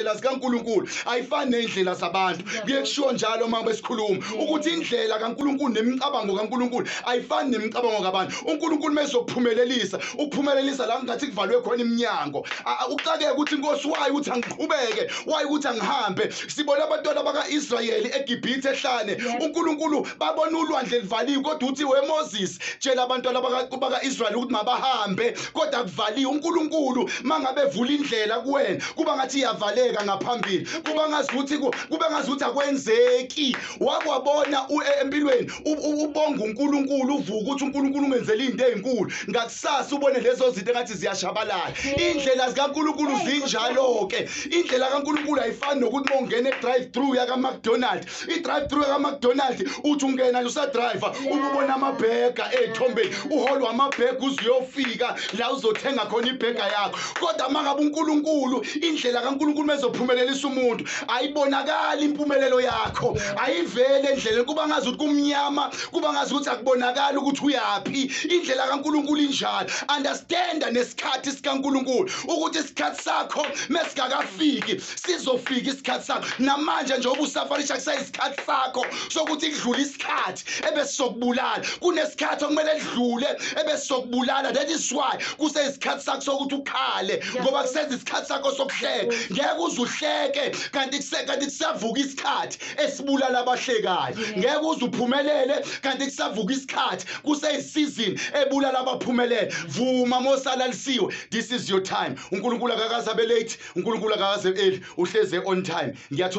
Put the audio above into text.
indlela zikaNkulunkulu ayifani nendlela zabantu kuye kushiwo njalo uma besikhuluma ukuthi indlela kaNkulunkulu nemicabango kaNkulunkulu ayifani nemicabango kabantu uNkulunkulu mesokuphumelelisa ukuphumelelisa la ngathi kuvalwe khona iminyango uxakeke ukuthi inkosi wayo ukuthi angiqhubeke wayo ukuthi angihambe sibona abantwana baka-Israyeli eGibhithe ehlane uNkulunkulu babona ulwandle livaliwe kodwa uthi weMoses tshela abantwana baka-Israyeli ukuthi mabahambe kodwa kuvaliwe uNkulunkulu mangabe evula indlela kuwena kuba ngathi iyavaleka ngaphambili kuba ngazi ukuthi kube ngazi ukuthi akwenzeki wakwabona e, empilweni ubonga uNkulunkulu uvuka ukuthi uNkulunkulu ungenzele izinto ezinkulu ngakusasa ubone lezo zinto engathi ziyashabalala indlela zikaNkulunkulu zinjalo ke indlela kaNkulunkulu ayifani nokuthi mongena e drive through yaka McDonald i-drive through kamacdonald uthi ungena usadrive ububona amabhega ey'thombeni uholwa amabhega uze uyofika la uzothenga khona ibhega yakho kodwa uma ngabe unkulunkulu indlela kankulunkulu mezophumelelisa umuntu ayibonakali impumelelo yakho ayivele endleleni kuba ngazi ukuthi kumnyama kuba ngazi ukuthi akubonakali ukuthi uyaphi indlela kankulunkulu injalo understanda nesikhathi sikankulunkulu ukuthi isikhathi sakho mesikakafiki sizofika isikhathi sakho namanje nje obusafarisha kusayisikhathi sakho sokuthi kudlule isikhathi ebesizokubulala kunesikhathi okumele kudlule ebesizokubulala that is why kuseyisikhathi sakho sokuthi ukhale ngoba kusenza isikhathi sakho sokuhleka ngeke uze uhleke kanti kanti kusavuka isikhathi esibulala abahlekayo ngeke uze uphumelele kanti kusavuka isikhathi kuseyisizini ebulala abaphumelele vuma mosalalisiwe this is your time uNkulunkulu akakaze abe late uNkulunkulu akakaze early uhleze on time ngiyathola